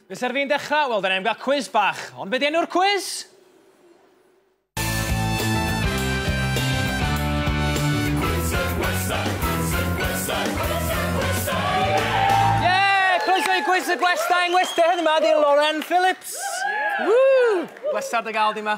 Ble ser fi'n dechrau? Wel, dyna ni'n cael cwiz bach. Ond be di enw'r cwiz? Cwis y Gwestai yng Ngwestai heddiw ma di Lauren Phillips. Woo! Bleser dy gael di ma.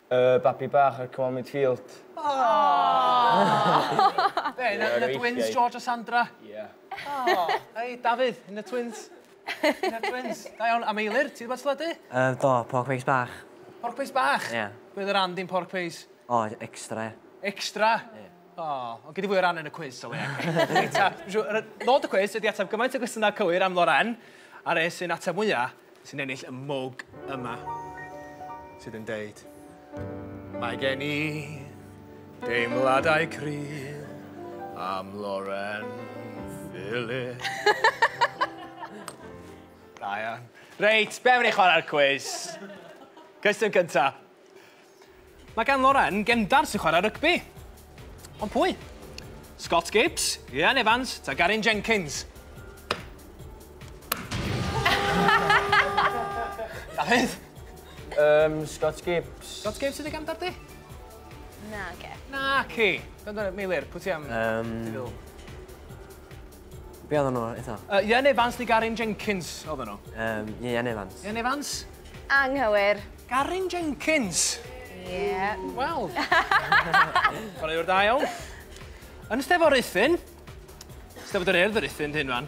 Y babi bach ar Come On Midfield. Aww! Be, un o'r twins, George a Sandra? Ie. Aww, hei, Dafydd, un o'r twins? Un o'r twins? Da iawn, a Meilir, ti 'di bod at teledu? Yy, do, pork pies bach. Pork pies bach? Ie. Be oedd yr and in pork pies? O, extra, ie. Extra? Ie. O, ond gei di fwy o ran yn y cwis o leia. Reit, a, siŵr, yy, nod y cwis ydy ateb gymaint o gwestiynau cywir am Loren, a res sy'n ateb mwya, sy'n ennill y mwg yma, sydd yn deud, Mae gen i deimladau cryf am Loren Philip. Ryan. Reit, be am i ni chwarae'r cwis? Cwestiwn cynta. Mae gan Loren gefndar sy'n chwarae rygbi. Ond pwy? Scott Gibbs, Rhian Evans, ta Garin Jenkins? Dafydd? Um, Scott Gibbs. Scott Gibbs sydd wedi gefndar di? Na, ge. Na, ci. Gwrando, Meilir, pwy ti am? Um, Be oedden nhw eto? Uh, Ian Evans neu Garin Jenkins oedden nhw? Um, Ian Evans. Ian Evans? Anghywir. Garin Jenkins? Ie. Yeah. Wel. Chwarae o'r da iawn. Yn Steddfod Ruthun, Steddfod yr Urdd yr Ruthun, hyn fan,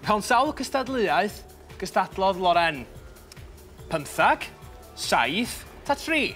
mewn sawl cystadleuaeth gystadlodd Loren? Pymthag, saith, ta tri?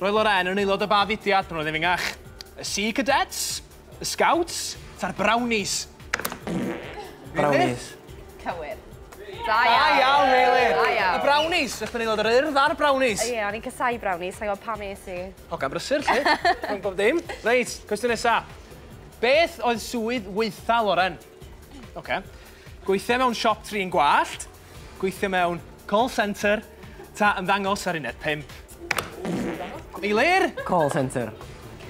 Roedd Lorraine yn aelod o ba fudiad pan oedd yn fengach? Y Sea Cadets? Y Scouts? Ta'r Brownies? Brownies. Cywir. Da iawn. Da iawn, Meilir. Da iawn. Y Brownies. Ydych chi'n aelod yr Urdd a'r Brownies? Ie, o'n i'n cysau Brownies, sa'n gwybod pam es i. Hogan brysur, ti? Rhwng bob dim. Reit, cwestiwn nesa. Beth oedd swydd weitha Loren? Oce. Okay. Gweithio mewn siop trin gwallt. Gweithio mewn call centre, ta ymddangos ar uned pump? Eilir? Call centre.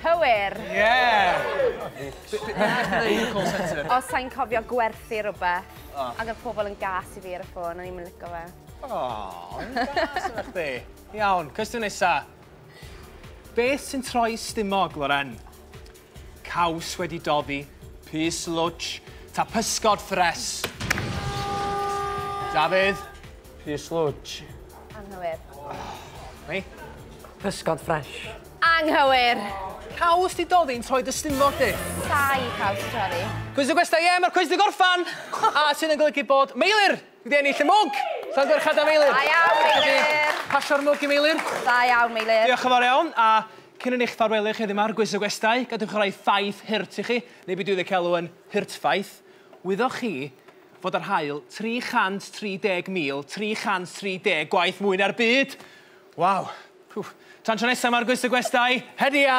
Cywir! Ie! Os sa i'n cofio gwerthu rhywbeth, ac oedd pobl yn gas i fi ar y ffôn, o'n i'm yn licio fe. O, o'n i'n gas yna chdi. Iawn, cwestiwn nesa. Beth sy'n troi stumog, Loren? Caws wedi doddi, pys lwtsh, ta pysgod ffres? Dafydd? Pys lwtsh. Anghywir. Hei? Pysgod ffres. Anghywir. Caws di doddi'n troi dy stumog di? Sai caws di doddi. Cwys y gwesta, ie, mae'r cwys di gorffan! A sy'n yn golygu bod Meilir wedi ennill y mwg! Sa'n gwerchad am Meilir? Da iawn, Meilir! Pasio'r mwg i Meilir. Da iawn, Meilir. Diolch yn fawr iawn, a Cyn yn eich ffarwelio chi heddiw yma ar Gwis y Gwestai, gadewch roi ffaith hurt i chi, neu be dwi'n ei galw yn hurtffaith. Wyddoch chi fod ar haul 330,330 gwaith mwy na'r byd? Waw! Wff. Tan tro nesaf yma ar Gwis y Gwestai, hedia!